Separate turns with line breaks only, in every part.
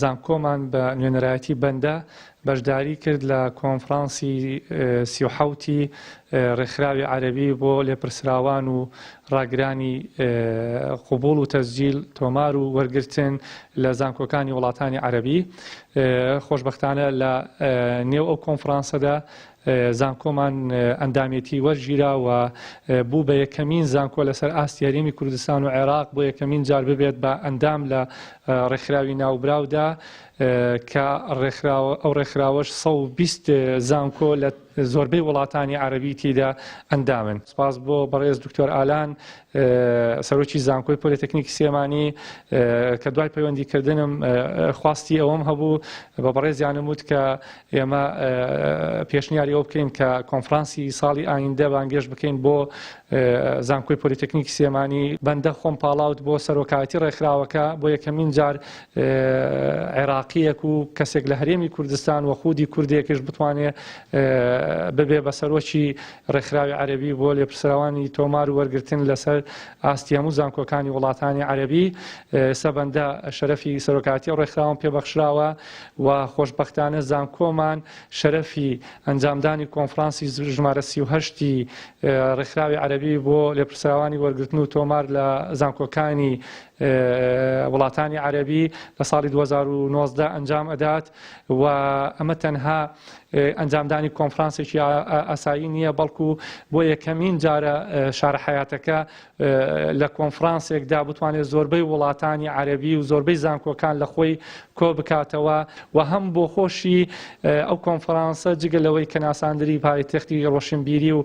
زانکۆمان بە نوێنەرایەتی بەندە بەشداری کرد لە کۆنفرانسی سی و حەوتی ڕێکخراوی عەرەبی بۆ لێپرسراوان و ڕاگرانی قوبوڵ و تەسجیل تۆمار و وەرگرتن لە زانکۆکانی وڵاتانی عەرەبی خۆشببختانە لە نێو ئەو کۆنفرانسەدا زانکۆمان ئەندامێتی وەرگیرا و بوو بە یەکەمین زانکۆ لەسەر ئاستی هەرێمی کوردستان و عێراق بۆ یەکەمین جار ببێت بە ئەندام لە ڕێکخراوی ناوبراودا کە ئەو ڕێکخراوەش 120 زانکۆ لە زۆربەی وڵاتانی عەربی تیدا ئەندامن سپاس بۆ بەڕێز دکتۆر ئالان سەرۆکی زانکۆی پۆلیتەکنیکی سێمانی کە دوای پەیوەندیکردنم خواستی ئەوەم هەبوو بە بەڕێزیانم وت کە ئێمە پێشنیاری ئەوە بکەین کە کۆنفرانسی ساڵی ئایندە بانگێش بکەین بۆ زانکۆی پۆلیتەکنیکی سێمانی بەندە خۆم پاڵاوت بۆ سەرۆکایەتی ڕێکخراوەکە بۆ یەکەمین جار عێراقیەک و کەسێک لە هەرێمی کوردستان و خودی کوردێکش بتوانێ ببێ بە سەرۆکی ڕێکخراوی عەربی بۆ لێپرسراوانی تۆمار و وەرگتن لەسەر ئاستی هەموو زانکۆکانی وڵاتانی عەربی سەبەندە شەرەفی سەرۆکاتی ڕێکخراوم پێبەخشراوە و خۆشبەختانە زانکۆمان شەرەفی ئەنجامدانی کۆنفرانسی ژمارە سی و هەشت ی ڕێکخراوی عەرەبی بۆ لێپرسراوانی وەرگرتن و تۆمار لە زانکۆکانی وڵاتانی عەرەبی لە ساڵی دوو هەزار و نۆزدە ئەنجام ئەدات و ئەمە تەنها ئەنجامدانی کۆنفرانسێکی ئاسایی نییە بەڵکو بۆ یەکەمین جارە شارە حەیاتەکە لە کۆنفرانسێکدا بتوانێت زۆربەی وڵاتانی عەرەبی و زۆربەی زانکۆکان لە خۆی کۆ بکاتەوە و هەم بۆ خۆشی ئەو کۆنفرانسە جگە لەوەی کە ناساندری پایتەختی ڕۆشنبیری و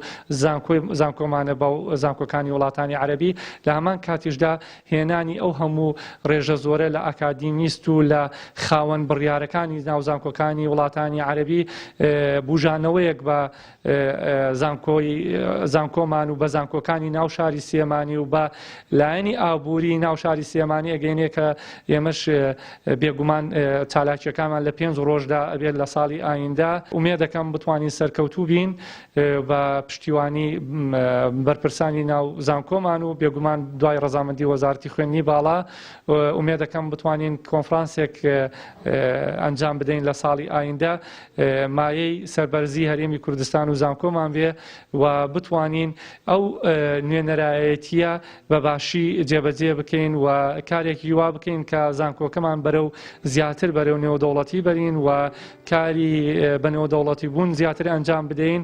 زانکۆمانە بە زانکۆکانی وڵاتانی عەرەبی لە هەمان کاتیشدا هێنانی ئەو هەموو ڕێژە زۆرە لە ئاکادیمیست و لە خاوەن بڕیارەکانی ناوزانکۆکانی وڵاتانی عەرەبی بژانەوەیەک بە زانکۆمان و بە زانکۆکانی ناو شاری سلێمانی و بە لایەنی ئابووری ناو شاری سلێمانی ئەگەینێ کە ئێمەش بێگومان چالاکیەکانمان لە پێنج ڕۆژدا ئەبێت لە ساڵی ئایندە ئومێ دەکەم بتوانین سەرکەوتوو بین بە پشتیوانی بەرپرسانی ناو زانکۆمان و بێگومان دوای ڕزامەندی وەزارتی خوێنی باڵا ئومێ دەکەم بتوانین کۆنفرانسێک ئەنجام بدەین لە ساڵی ئایندە مایەی سەربەرزی هەرێمی کوردستان و زانکۆمان بێ و بتوانین ئەو نوێنەرایەتیە بە باشی جێبەجێ بکەین و کارێکی وا بکەین کە زانکۆکەمان بەرە و زیاتر بەرە و نێودەوڵەتی بەرین و کاری بە نێودەوڵەتی بوون زیاتر ئەنجام بدەین.